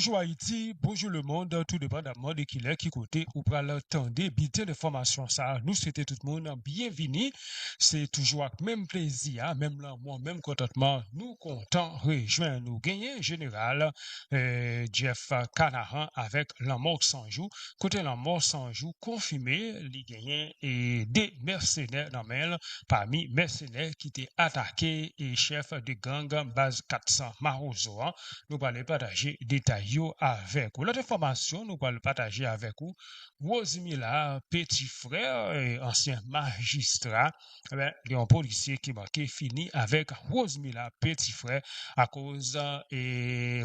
Bonjou Ayiti, bonjou lemond, tou depandamman de kilè, ki kote ou pral tande bilten enfòmasyon sa a, nou swete tout moun byenvini. Se toujou ak menm plezi a, menm lanmou, menm kontantman nou kontan rejwenn ou. Genyen Jeneral Jeff Canahan avèk Lanmò Sanjou, kote Lanmò Sanjou konfime li. genyen de mèsenè nan men l pami mèsenè ki te atake chèf de gang baz 400 mawozo an nou pral pataje detay yo avèk ou lòt enfòmasyon nou pral pataje avèk ou Rosmila Petit Frere ansyen majistra ebyen gen yon polisye ki manke fini avèk Rosemila peti frè akoz e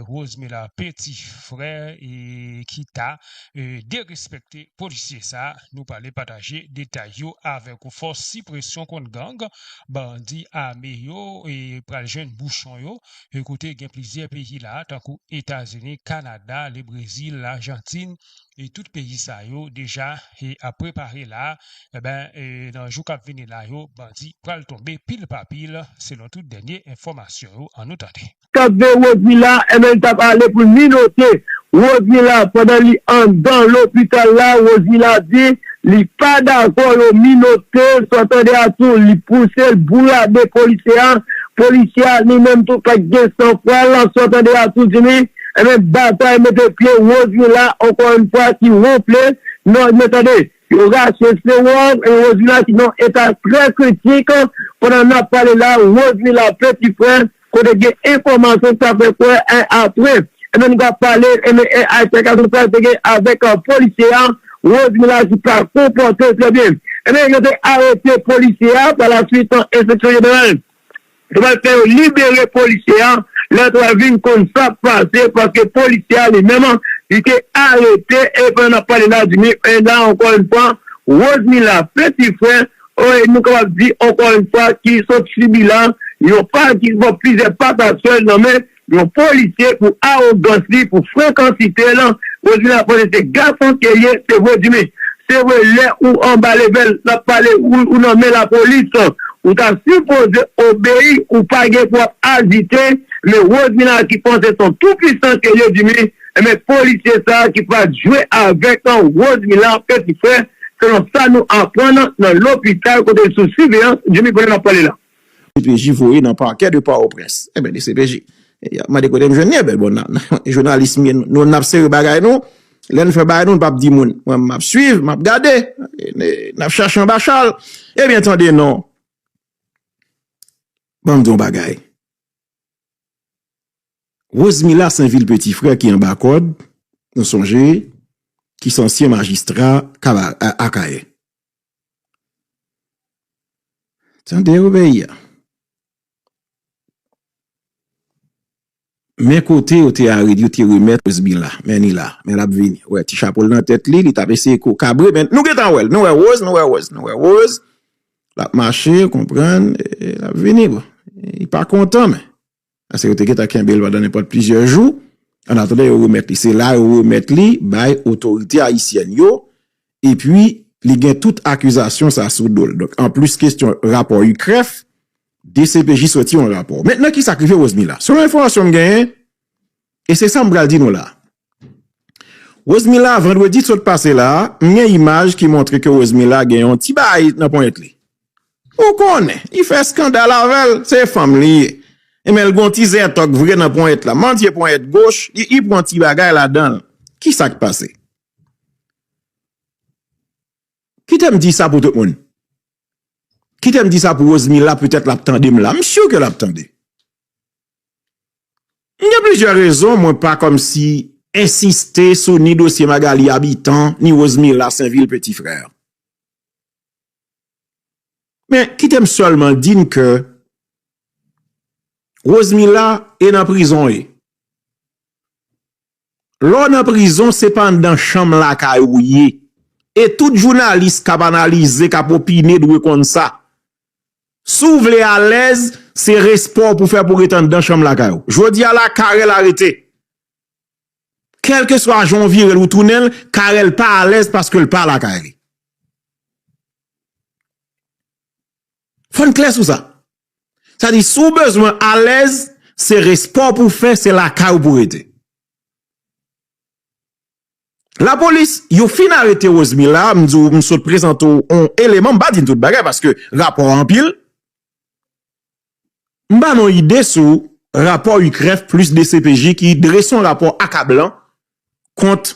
Rosemila peti frè e kita e derespekte polisye sa nou prale pataje detay yo avèk ou fòs sipresyon kont gang bandi ame yo e pral jwenn bouchon yo e kote gen plizyè peyi la tankou etazini kanada lebrezil lajantin e tout peyi sa yo deja e ap prepare la enben e nan jou kap vini la yo bandi pral tonbe pil pa pil selon tout dènye enfòmasyon yo an nou tande. Kap veye Rosny la enben li tap ale poul minote Rosny la pandan li andan lopital la Rosny la di li pa dakò yo minotel sa w tande a tou li pousel bourade polisye a polisye a li menm tou pat gen san fwal sa w tande a tou di li Ebyen batay mete pye Rosmila ankò yn fwa ki wonfle non ebyen tande yo rache sewòm ebyen Rosmila ki nan eta trè kritik pandan nap pale la Rosmila peti frè kote gen enfòmasyon ki ta fè kwè en aprè ebyen nou ka pale ebyen en altèkasyon sa te gen avèk polisye a Rosmila ki pa konpòte trè byen ebyen yo te arete polisye a pa la swit enspeksyon jeneral. Yo pral fè yo libere polisye a lè yo pral vin konn sak pase paske polisye a li menm li te arete e pandan nap pale la di ni e la ankò yn fwa Rosemila peti frè e nou kapab di ankò yn fwa ki sot sibi la yon pa ki bon plizyè pa ta sèl nan men Yon polisye pou arogans li pou frekansite l podywi lap vann se gason ke l ye se vre di men se vre lè ou anba level lap pale ou nan men lapolis ou ta sipoze obeyi ou pa gen pou ap ajite men rosemina ki panse son tou pwisan ke l ye di men ebyen polisye sa ki pat jwe avek rosemila peti frè selon sa nou aprann nan lopital kote l sou siveyans di men kounye lap pale la. Dcpj voye nan parquet de port au prince enben dcpj yap mande kotem jwenn li enben bon nan journalist mwen nou nap sere bagay nou lèn fè bagay nou pap di moun mwen map swiv map gade nap chache anba chal ebyen tande non banm di yon bagay Rosemila saint vil petit frè ki anba kòd nou sonje ki se ansyen magistra akayè. Tande yo peyi a. Men kote yo te aret, yo te remèt Rosebila. Men li la. Men lap vini. Wè ti chapo l nan tèt li. Li tap eseye ko kabre men nou gentan wè l. Nou wè Rose, nou wè Rose, nou wè Rose. Lap mache, konprann. Lap vini. Li pa kontan men. Pase yo te gentan kenbe l pandan nenpòt plizyè jou, annatandan yo remèt li. Se la yo remèt li bay otorite ayisyèn yo, epi li gen tout akizasyon sa sou do l. Donk, anplis kestyon rapò UCREF, dcpj soti yon rapò. Mentnan ki sa k rive Rosmila? Selon enfòmasyon m genyen, e se sa m pral di nou la, Rosemila Vandredi sot pase la, m gen imaj ki montre ke Rosemila gen yon ti bagay nan ponyèt li. Ou konnen, li fè eskandal avè l, se fanm li ye. Enben l gen yon ti zètòk vre nan ponyèt la. Manzye ponyèt goch, li pran yon ti bagay ladan l. Ki sa k pase? Kite m di sa pou tout moun. Kite m di sa pou Rosemila petèt l ap tande m la. M si ke l ap tande. M gen plizyè rezon mwen pa kòmsi ensiste sou ni dosye Magalie Habitant ni Rosemila Sainvil Petit Frère. Men kite m sèlman di n ke Rosemila e nan prizon e. Lè w nan prizon se pa anndan chanm lakay ou ye. E tout jounalis k ap analize, k ap opine dwe konn sa. Si w vle alèz, se respè w pou fè pou ret anndan chanm lakay ou. Jodi a la, Carel arete. Kèlke swa jan w vire l ou tounen l, Carel pa alèz paske l pa lakay li. Fò n klè sou sa. Sa di si w bezwen alèz, se respè w pou w fè, se lakay ou pou w rete. Lapolis, yo fin arete Rosmy la, m di w m sot prezante w yon eleman, m pa di n tout bagay paske rapò a anpil. M ba nou yon ide sou rapò UCREF plis DCPJ ki drese yon rapò akablan kont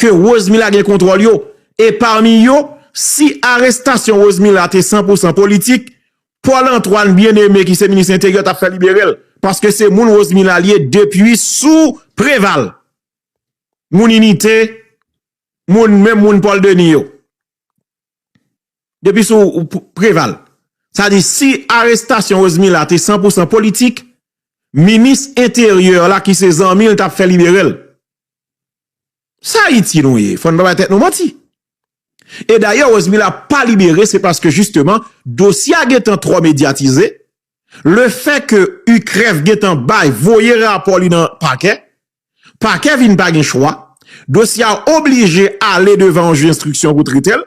ke Rosemilla gen kontwòl yo e pami yo, si arestasyon Rosemilla te san pou san politik, Paul Antoine Bien-Aimé ki se minis enteryè t ap fè libere l, paske se moun Rosemilla li ye depi sou Preval, moun inite, moun menm moun Paul Denis yo. Depi sou Preval. Sa di si arestasyon Rosemil la te san pou san politik, minis enteryè la ki se zanmi l tap fè libere l. Sa Ayiti nou ye? Fò n pa bay tèt nou manti. E dayè Rosemil la pa libere se paske jisteman dosye a gentan twò medyatize, le fè ke UCREF gentan bay voye rapò li nan pakè, Pakè vin pa gen chwa, dosye a oblije ale devan yon jij enstriksyon pou trete l,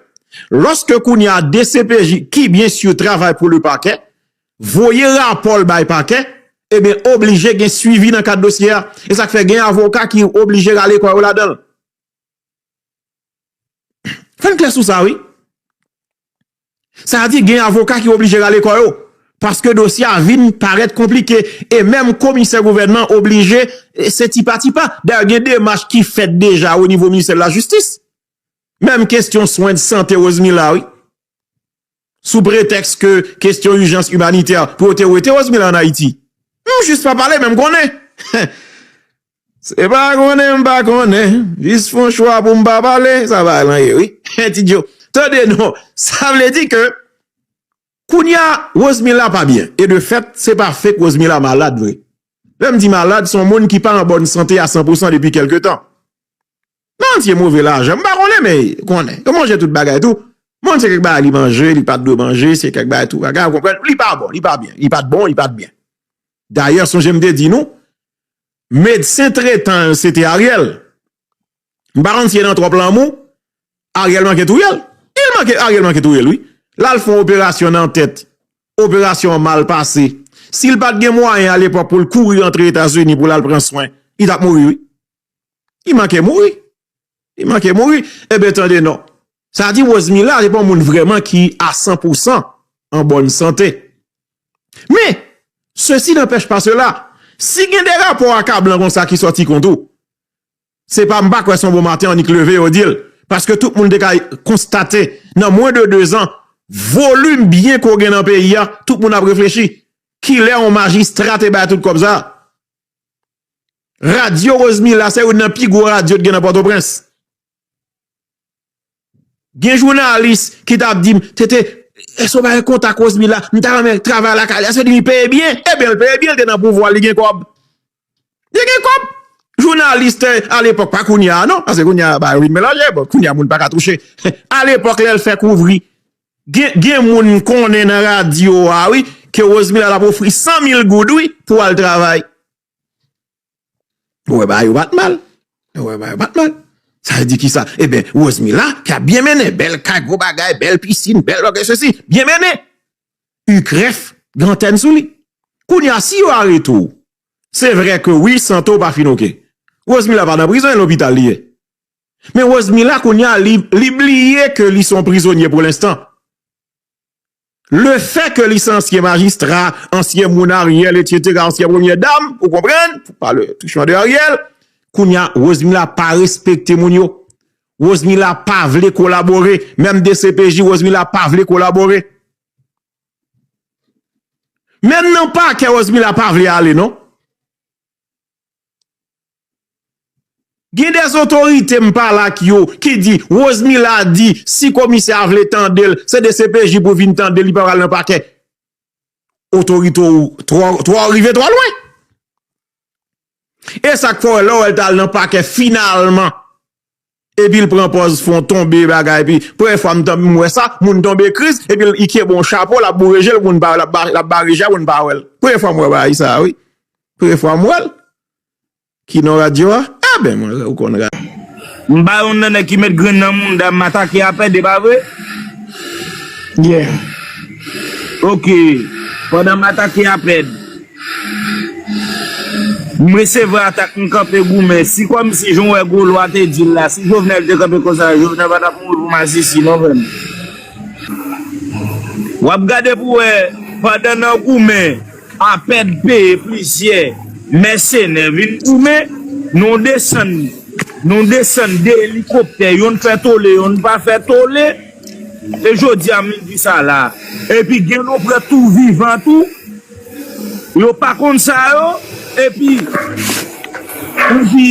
lòske kounye a dcpj ki byen sur travay pou lepakè, voye rapò l bay pakè, ebyen oblije gen swivi nan kad dosye a. E sa k fè gen avoka ki oblije rale kò yo ladan l. Fè n klè sou sa wi. Sa a di gen avoka ki oblije rale kò yo. Paske dosye a vin parèt konplike. E menm komisè gouvènman oblije se tipa tipa. Dayè gen demach ki fèt deja o nivo ministè la jistis. Menm kestyon swen de sante Rosemilla wi. sou pretèks ke kestyon ijans imanitè pou yo te wete Rosmila an Ayiti. M jis pa pale men m konnen. Se pa konnen m pa konnen, jis fon chwa pou m pa pale, sa bagay lan ye wi. Ti Djo, tande non, sa vle di ke kounye a Rosmila pa byen e de fèt se pa fake Rosmila malad vre. Lè m di malad, son moun ki pa an bòn sante a 100 pousan depi kèlke tan. Nan tye move lajan m pa konnen men konnen yo manje tout bagay tou moun se kèk bagay li manje li pat dwe manje se kèk bagay tou bagay ou konprann li pa bon li pa byen li pat bon li pat byen dayè sonje m te di nou medsen tretan l se te Ariel m pa konn si e nan twòp lanmou Ariel manke touye l Ariel manke touye l wi lal fon operasyon nan tèt operasyon an mal pase si l pat gen mwayen alepòk pou l kouri antre Etazini pou lal pran swen li tap mouri wi. Li manke mouri. Li manke mouri. Eben tande non. Sa di Rosemilla se pa yon moun vreman ki a 100 pou 100 an bonne sante. Men, se si nan pech pa se la. Si gen de rapor a ka blan kon sa ki soti kont ou. Se pa m pa kwe son bon maten an ni k leve yo di l. Paske tout moun de ka konstate nan mwen de 2 zan volume byen ko gen nan peyi a. Tout moun ap reflechi. Ki le yon majistra te bay tout kob sa. Radyo Rosemilla se youn nan pi gwo radyo t gen nan Pòtoprens. Gen jounalis ki tap di m, TT, èske w pa gen kontak Rosemilla, m ta renmen travay lakay li, èske li peye byen? Ebyen l peye byen, l te nan pouvwa, li gen kòb. Li gen kòb! Jounalis te, alepòk, pa kounye a non, pase kounye a bagay yo vin melanje, bon, kounye a moun pa ka touche. Alepòk lè l fè kouvri Gen moun m konnen nan radyo a wi ke Rosemilla t ap ofri 100 mil goud wi pou al travay. Ou wè bagay yo pat mal. Ou wè bagay yo pat mal. Sa vle di kisa? Eben Rosemilla ki ap byen mennen. Bèl kay, gwo bagay, bèl piscine, bèl bagay se si. Byen mennen. U krèf gen antèn sou li. Kounye a si yo arete ou. Se vre ke wi sante ou pa fin ok. Rosemilla pa nan prizon e lopital li ye. Men Rosemila kounya li bliye ke li son prizonye pou lenstan. Le fè ke li se ansyen majistra, ansyen moun Ariel etc. Ansyen premye dam, ou konprann, pou pale touchman de Ariel, kounya Rosemila pa respekte moun yo. Rosemila pa vle kolabore, menm dcpj Rosemila pa vle kolabore. Menm nan pakè Rosemila pa vle ale non. Gen des otorite m pale ak yo ki di Rosemila di si komisè a vle tande l se dcpj pou vin tande l li pa pral nan pakè. Otorite ou twò rive twò lwen. E sak fè w wè lè w wè l ta al nan pakè finalman Epil pran pòz fon tonbe bagay pi premyè fwa m wè sa moun tonbe kriz epil kenbe yon chapo lap boure jel pou moun pa wèl lap bare jel pou moun pa wèl premyè fwa m wè bagay sa wi premyè fwa m wèl ki non radyo a eben mwen wè ou konn radyo. M pa yon nan nèg ki met grenn nan mounda m atake a pède pa vre? Yeah. Ok. Pandan m atake a pède. M resevwa atak m kanpe goumen si kòmsi jan w wè gwo lwa te di l la si Jovenel te kanpe konsa Jovenel pa t ap mouri pou masisi non frè m w ap gade pou w wè pandan nan goumen apèd peye plizyè mèsenè vin goumen nou desann nou desann 2 elikoptè youn fè tole youn pa fè tole. E jodi a moun di sa la. Epi gen nou pran tou vivan tou yo pa konn sa yo epi ou di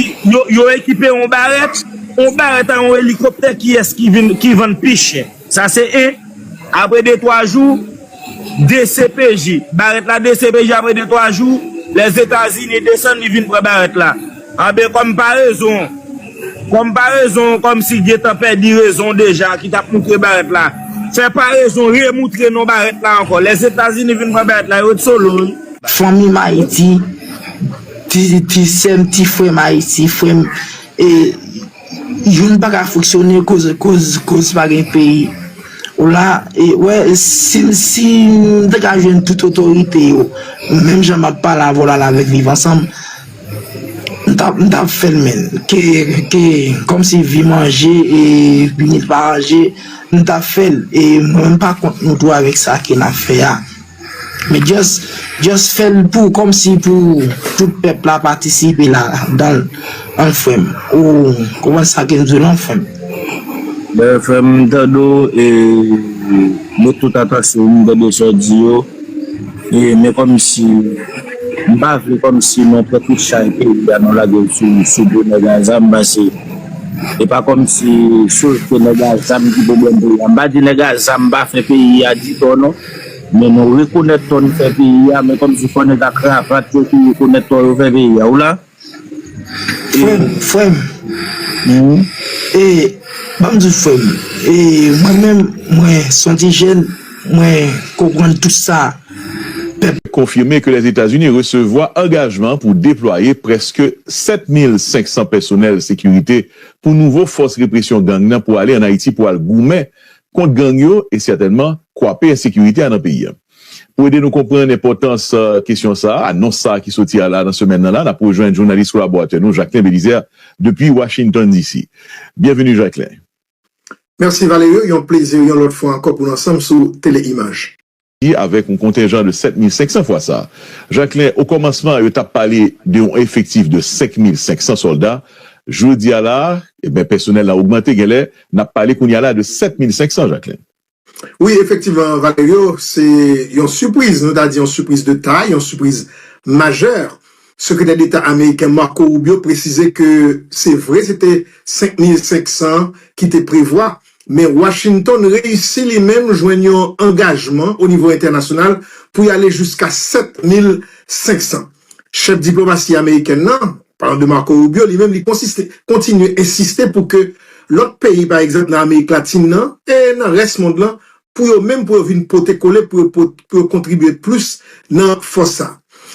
yo ekipe yon barèt yon barèt a yon elikoptè kiyès ki vann pi chè sa se 1 apre 2 3 jou Dcpj, Barèt la dcpj apre 2 3 jou, Lèzetazini desann li vin pran Barèt la. Anben kòm parezon, kòm parezon kòm si gentan pèdi rezon deja ki tap moutre Barèt la, fè parezon remoutre non Barèt la ankò. Lèzetazini vin pran Barèt la, yo ret solo wi. Fanmi m Ayiti, ti sè m, ti frè m Ayiti, frè m e. Youn pa ka fonksyone koz pa gen peyi. Ou la e wè si m te ka jwenn tout otorite yo menm jan m ap pale avè w la la avèk viv ansanm m ta fè l menn ke kòmsi vi manje e bini pa anje m ta fè l e mwen m pa kont nou tou avèk sa ke n ap fè a. Men just just fèl pou kòmsi pou tout pèp la patisipe la danl an frèm ou konprann sa kem diw lan frèm. Ben frèm m tande w e met tout atansyon m tande sa w di yo e men kòmsi m pa vle kòmsi nan pran tout chay peyi a nou lage l sou sou do nèg a zam pase e pa kòmsi sof se nèg a zam ki pwoblèm peyi a m pa di nèg a zam pa fè peyi a di tò non. Men nou rekonèt tò n fè peyi a men kòmsi fò nèg a kravat yo tou rekonèt tò yo fè peyi a ou la Frèm frèm e banm diw frèm e mwen menm mwen son ti jèn mwen konprann tout sa pèp konfime ke Lèzetazini resevwa angajman pou deplwaye prèske 7500 pèsonèl sekirite pou nouvo fòs represyon gang nan pou ale an Ayiti pou al goumen kont gang yo e sètènman kwape ensekirite a nan peyi a. Pou ede nou konprann enpòtans kesyon sa a, anons sa a ki soti a la nan semèn nan la, n ap rejwenn jounalis kolaboratè nou Jacquelin Belizaire depi Washington DC. Byenveni Jacquelin. Merci Valerio, yon plezi yon lòt fwa ankò pou n ansanm sou Tele Imaj. avèk yon kontenjan de 7500 fwa sa. Jacquelin, Okòmansman, yo t ap pale de yon efektif de 5500 sòlda. Jodi a la a, enben, pèsonèl la ogmante, genlè n ap pale kounye a la a de 7500, Jacquelin. Wi, efektivman, Valerio, se yon sipriz, nou ta di yon sipriz de tay, yon sipriz majè. Sekretè Deta ameriken Marco Rubio presize ke se vre se te 5500 ki te prevwa, Men Washington reyisi li menm jwenn yon angajman o nivo entènasyonal pou y ale jiska 7500. Chèf diplomasi amerikèn nan, palan de Marco Rubio, li menm li konsiste kontinye ensiste pou ke lòt peyi pa egzanp nan Amerik Latin nan e nan rès mond lan pou yo menm pou yo vin pote kole pou yo pou yo kontribye plis nan fòs sa.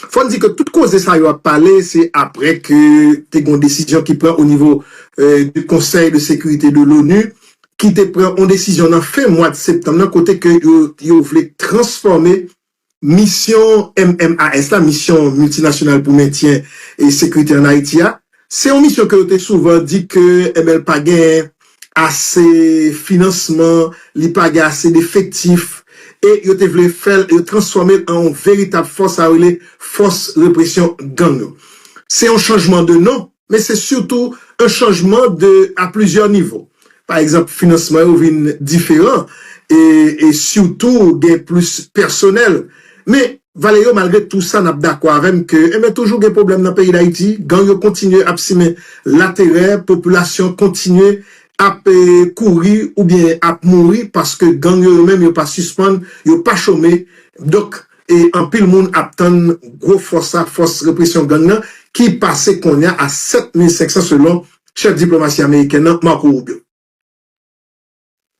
Fò n di ke tout koze sa yo ap pale se aprè ke te gen yon desizyon ki pran o nivo de konsèy de sekirite de l'ONU ki te pran yon desizyon nan fen mwad septanm nan kote ke yo yo vle transfòme Misyon MMAS la, Misyon Miltinasyonal pou Mentyen Sekrite an Ayiti a, se yon misyon ke yo te souvan di ke ML pa gen ase finansman, li pa gen ase defektif, e yo te vle fè l, yo transfòme l an yon veritab fòs, sa yo rele Fòs Represyon Gang yo. Se yon chanjman de non. men se sitou un chanjman de a plizyè nivo. Pa egzanp, finansman yo vin diferan e e sitou gen plis pèsonèl. Men, Valerio malgre tou sa n'ap dakò avè m ke enben toujou gen pwoblèm nan peyi Dayiti, gang yo kontinye ap simen laterè, popilasyon kontinye ap e kouri oubyen ap mouri paske gang yo yo menm yo pa sispann, yo pa chome, donk. e anpil moun ap tann gwo fòs sa, fòs represyon gang nan, ki pase konnya a 7500 selon chèf diplomasi amerikèn nan, Marco Rubio.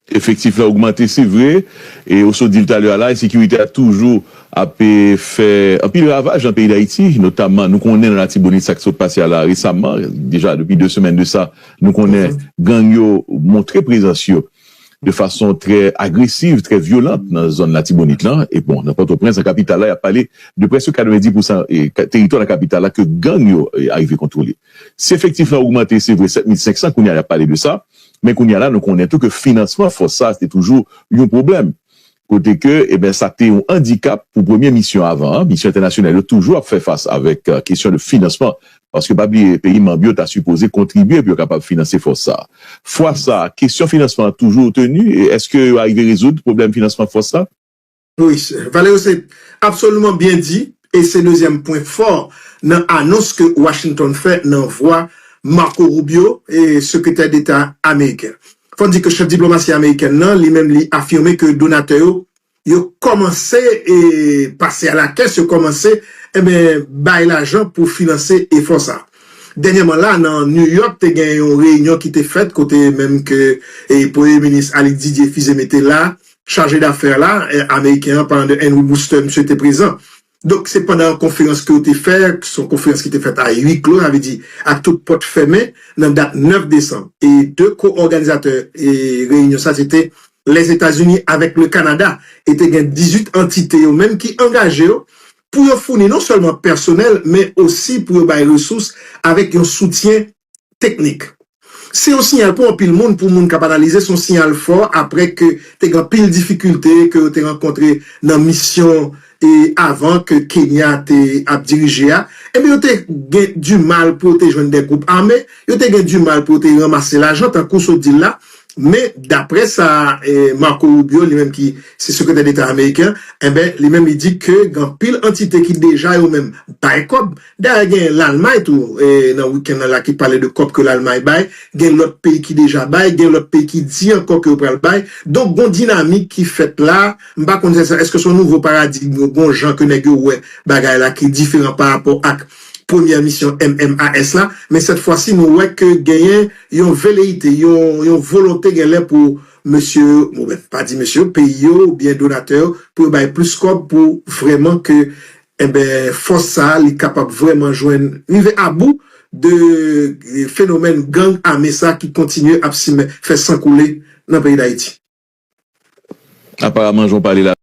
Efektif la ogmante se vre, e ou sot di l talè a la, ensekirite a toujou ap fè anpil ravaj nan peyi Dayiti, notamman nou konnen nan Latibonit sa k sot pase a la resamman, deja depi 2 semèn de sa, nou konnen gang yo montre prezans yo. de fason trè agresiv, trè vyolant nan zòn Latibonit lan, e bon nan Pòtoprens, nan kapital la y ap pale de prèske 90 pousan teritwa nan kapital la ke gang yo arive kontwole. Si efektif lan ogmante se vre 7500 kounye a y ap pale de sa, men kounye a la nou konnen tou ke finansman fòs sa se te toujou yon pwoblèm. kote ke eben sa te yon andikap pou premye misyon avan an, misyon entènasyonal yo toujou ap fè fas avèk kesyon de finansman, paske pa bliye peyi manb yo ta sipoze kontribye pou yo kapab finanse fòs sa. Fwa sa, kesyon finansman an toujou reteni e eske yo arive rezoud pwoblèm finansman fòs la? Wi sè. Valerio se absoliman byen di e se dezyèm pwen fò nan anons ke Washington fè nan vwa Marco Rubio, Sekretè Deta Ameriken. Fò n di ke chèf diplomasi amerikèn nan, li menm li afime ke donatè yo, yo kòmanse pase a la kès, yo kòmanse enben bay lajan pou finanse efò sa. Dènyèman la, nan New York te gen yon reyinyon ki te fèt kote menm ke premye minis Alix Didier Fils-Aimé te la, chaje dafè la ameriken an, Parlant de Henry Booster, misye te prezan. Donk se pandan yon konferans ke yo te fè, se yon konferans ki te fèt a ui klo, sa vle di ak tout pòt fèmen, nan dat 9 desanm. E 2 ko-òganizatè reyinyon sa se te Lèzetazini avèk Le Kanada e te gen 18 antite yo menm ki angaje yo pou yo founi non sèlman pèsonèl men osi pou yo bay resous avèk yon soutyen teknik. Se yon siyal pou anpil moun, pou moun k ap analize se yon siyal fò aprè ke te gen anpil difikilte ke yo te rankontre nan misyon e avan ke Kenya te ap dirije a. Ebyen yo te gen di mal pou yo te jwenn de gwoup ame, yo te gen di mal pou yo te ranmase lajan tankou sot di l la. Men daprè sa Marco Rubio li menm ki se sekretè deta ameriken, enben li menm li di ke gen anpil antite ki deja yo menm bay kòb Dayè gen Lalmay tou nan weekend nan la ki pale de kòb ke Lalmay bay, gen lòt peyi ki deja bay, gen lòt peyi ki di ankò ke yo pral bay. Donk gon dinamik ki fèt la, m pa konn se eske se yon nouvo paradigm yo gon jan ke nèg yo wè bagay la ki diferan pa rapò ak premyè misyon MMAS la, men sèt fwa si nou wè ke genyen yon veleite, yon volonte gen lè pou mesye yo, bon m pa di mesye yo, peyi yo oubyen donatè yo pou yo bay plis kòb pou vrèman ke Enben, fòs sa a, li kapab vrèman jwenn, rive abou de fenomèn gang ame sa ki kontinye ap simen, fè san koule nan peyi Dayiti. Aparaman jan w pale la.